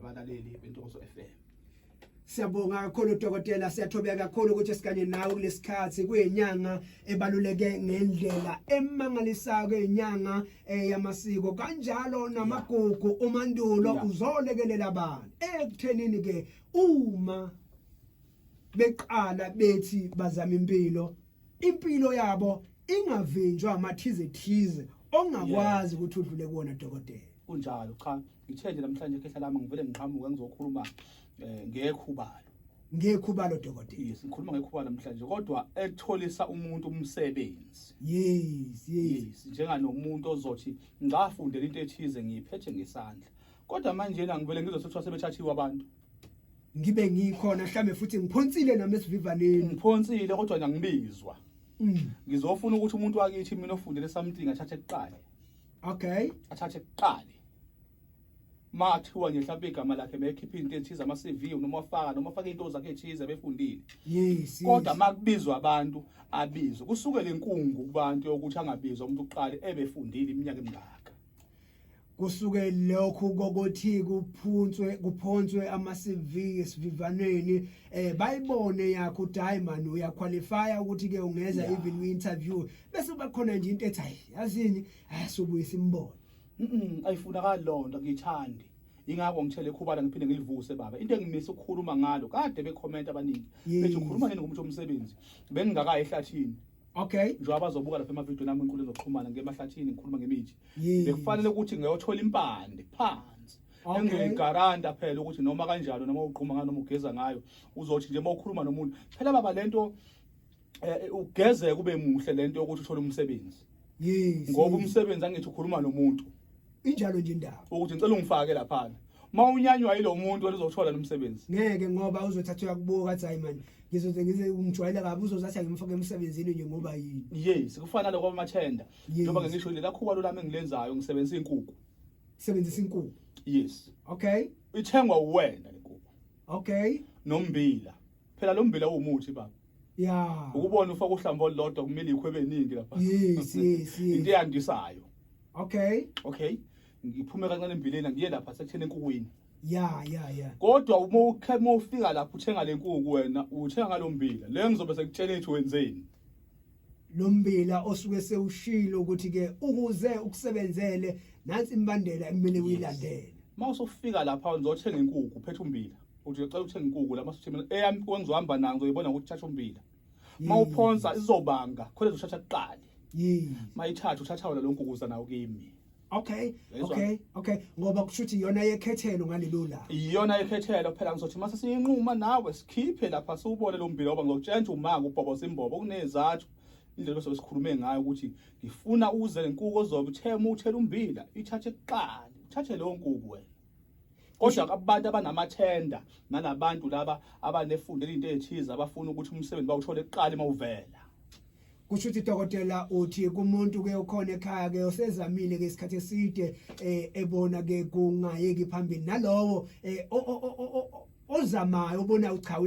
abalaleli bentokozo FM Siyabonga kakhulu dokotela siyathobeka kakhulu ukuthi sikanye nawe kulesikhathi kuyinyanga ebaluleke ngendlela emangalisayo kuyinyanga eh, yamasiko kanjalo namagugu umandulo uzolekelela abantu ekuthenini ke uma beqala bethi bazama impilo impilo yabo ingavinjwa amathize thize ongakwazi ukuthi udlule kuwona dokotela kunjalo cha ngithe nje namhlanje khehla lami ngivele ngiqhamuke ngizokhuluma eh, ngekhubalo ngekhubalo dokotela yes ngikhuluma ngekhubalo namhlanje kodwa ekutholisa umuntu umsebenzi yes yes njenganomuntu ozothi ngafundela into ethize ngiyiphethe ngesandla kodwa manje la ngivele ngizothothwa sebethathiwe abantu ngibe ngikhona mhlambe futhi ngiphonsile nami esivivaneni ngiphonsile kodwa ngiyangibizwa mm. ngizofuna ukuthi umuntu wakithi mina ofundele something athathe kuqale okay athathe kuqale mathiwa nje mhlawumbe igama lakhe bekhipha into ethize ama-cv noma afaka noma afake into zakhe ethize befundile yes kodwa makubizwa abantu abizwe kusuke le nkungu kubantu yokuthi angabizwa umuntu uqale ebefundile iminyaka emingaka kusuke lokhu kokuthi kuphuntswe kuphonswe ama CV esivivaneni eh bayibone yakho ukuthi hayi man uya qualify ukuthi ke ungeza yeah. even we interview bese bakhona nje into ethi hayi yazini ayasubuyisa imbono mhm ayifuna ka lonto ngithandi ingakho ngithele khubala ngiphinde ngilivuse baba into engimisa ukukhuluma ngalo kade bekhomenta abaningi bethi ukhuluma nini ngomuntu omsebenzi bengingakayi ehlathini Okay. Njengoba bazobuka lapha emavideo nami inkulu ezoxhumana ngemahlathini ngikhuluma ngemithi. Bekufanele ukuthi ngiyothola impande phansi. Okay. Engiyigaranta phela ukuthi noma kanjalo noma uqhuma ngayo noma ugeza ngayo uzothi nje mawukhuluma nomuntu phela baba lento eh, eh, ugeze kube muhle lento yokuthi uthole umsebenzi. Yes. Ngoba umsebenzi angithi ukhuluma nomuntu. injalo nje indaba ukuthi ngicela ungifake lapha uma unyanywa yilo muntu wena uzothola nomsebenzi ngeke ngoba uzothatha uyakubuka athi hayi mani ngizoze ngize umjwayela kabi uzozathi angimfake emsebenzini nje ngoba yini yes kufana lokho amathenda njengoba ngisho lela khuba lolami engilenzayo ngisebenzisa inkukhu sebenzisa inkukhu yes okay ithengwa uwena inkukhu okay nombila phela lo mbila uwumuthi baba ya ukubona ufaka uhlamba olulodwa kumele ikhwebe eningi lapha yes yes yes into eyandisayo okay okay ngiphume kancane embileni ngiye lapha sekuthena enkukwini ya ya ya kodwa uma ukhe- uma ufika lapha uthenga le nkuku wena uthenga ngalo mbila le ngizobe sekutshela ethi wenzeni lo mbila osuke sewushilo ukuthi ke ukuze ukusebenzele nansi imbandela ekumele uyilandele uma usufika lapha ngizothenga inkuku phethe umbila uthi ucela ukuthenga inkukhu la masithimela eyami kwengizohamba nayo ngizoyibona ukuthi thatha umbila uma uphonsa izobanga khona zoshatha kuqali mayithatha uthatha wona lo nkukuza nawo kimi okay okay okay ngoba kushuthi iyona yekhethelo ngalelo la iyona yekhethelo phela ngizothi mase siyinquma nawe sikhiphe lapha siwubone lo mbila ngoba ngizokutshela umaka ubhobo simbobo kunezathu indlela bese sikhulume ngayo ukuthi ngifuna uze lenkuku ozobe uthema uthela umbila ithathe kuqala uthathe leyo nkuku wena kodwa kabantu abanamathenda nalabantu laba abanefundela into ethize abafuna ukuthi umsebenzi bawuthole kuqala uma uvela kusho ukuthi dokotela uthi kumuntu ke ukhona ekhaya ke osezamile ke isikhathi eside eh, ebona ke kungayeki phambili nalowo eh, ozamayo obona uchawu